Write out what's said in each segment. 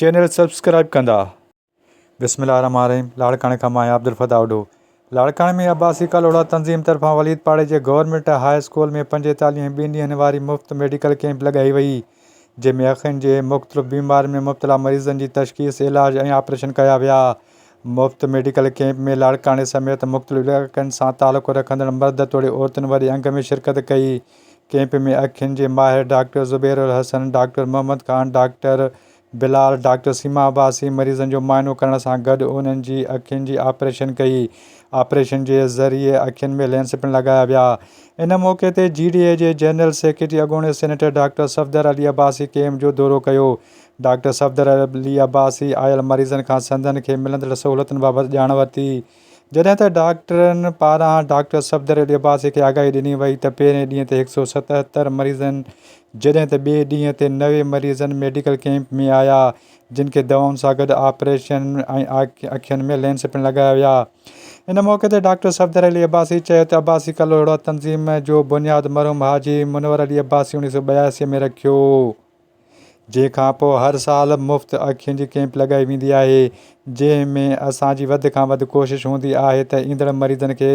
Channel subscribe ڪندا. بسم الله الرحمٰن الرحيم لاڙڪاڻي کان مان آهيان عبدالفتاح اوڍو لاڙڪاڻي ۾ عباسي ڪلهوڙا تنظيم طرفان وليد پاڙي جي گورنمينٽ هاء اسڪول ۾ پنجيتاليهين ۽ ٻن ڏينهن واري مفت ميڊيڪل ڪيمپ لڳائي وئي جنهن ۾ اکين جي مختلف بيمارين ۾ مبتلا مريضن جي تشخيص علاج ۽ آپريشن ڪيا ويا مفت ميڊيڪل ڪيمپ ۾ لاڙڪاڻي سميت مختلف علائقن سان تعلق رکندڙ مرد توڙي عورتن وڏي انگ ۾ شرڪت ڪئي ڪئمپ ۾ اکين جي ماهر doctor Zubair Alhassan, doctor Muhammad Khan, doctor Bilal, doctor Seema Abbasi مريضن جو معائنو ڪرڻ سان گڏ انهن جي اکين جي آپريشن ڪئي. آپريشن جي ذريعي اکين ۾ لينس پڻ لڳايا ويا. ان موقعي تي جي ڊي اي جي جنرل سيڪريٽري اڳوڻي senator doctor Safdar Ali Abbasi camp جو دورو ڪيو. ڊاڪٽر صفدر علي عباسي آيل مريضن کان سندن کي ملندڙ سهولتن بابت ڄاڻ ورتي. جڏهن ته ڊاڪٽرن پاران ڊاڪٽر صفدر علي عباسي کي آگاهي ڏني وئي ته پهرين ڏينهن تي هڪ سؤ ستهتر مريضن جڏهن ته ٻئي ڏينهن تي نوي مريضن ميڊيڪل ڪئمپ ۾ آيا جن کي دوائن سان گڏ آپريشن ۽ اکين ۾ لينس پڻ لڳايا ويا. ان موقعي تي ڊاڪٽر صفدر علي عباسي چيو ته عباسي ڪلهوڙا تنظيم جو بنياد مرحوم حاجي منور علي عباسي اڻيهه سؤ ٻياسي ۾ رکيو. جنهن کان پوء هر سال مفت اکين جي ڪيمپ لڳائي ويندي آهي، جنهن ۾ اسان جي وڌ کان وڌ ڪوشش هوندي آهي ته ايندڙ مريضن کي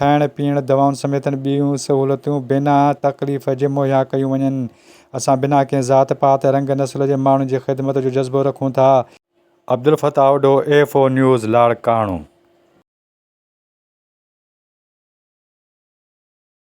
کائڻ پيئڻ، دوائن سميت ٻيون سهولتون بنا تڪليف جي مهيا ڪيون وڃن. اسان بنا ڪنهن ذات پات، رنگ نسل جي ماڻهن جي خدمت جو جذبو رکون ٿا. Abdulfattah Odho, A F O news, Larkana.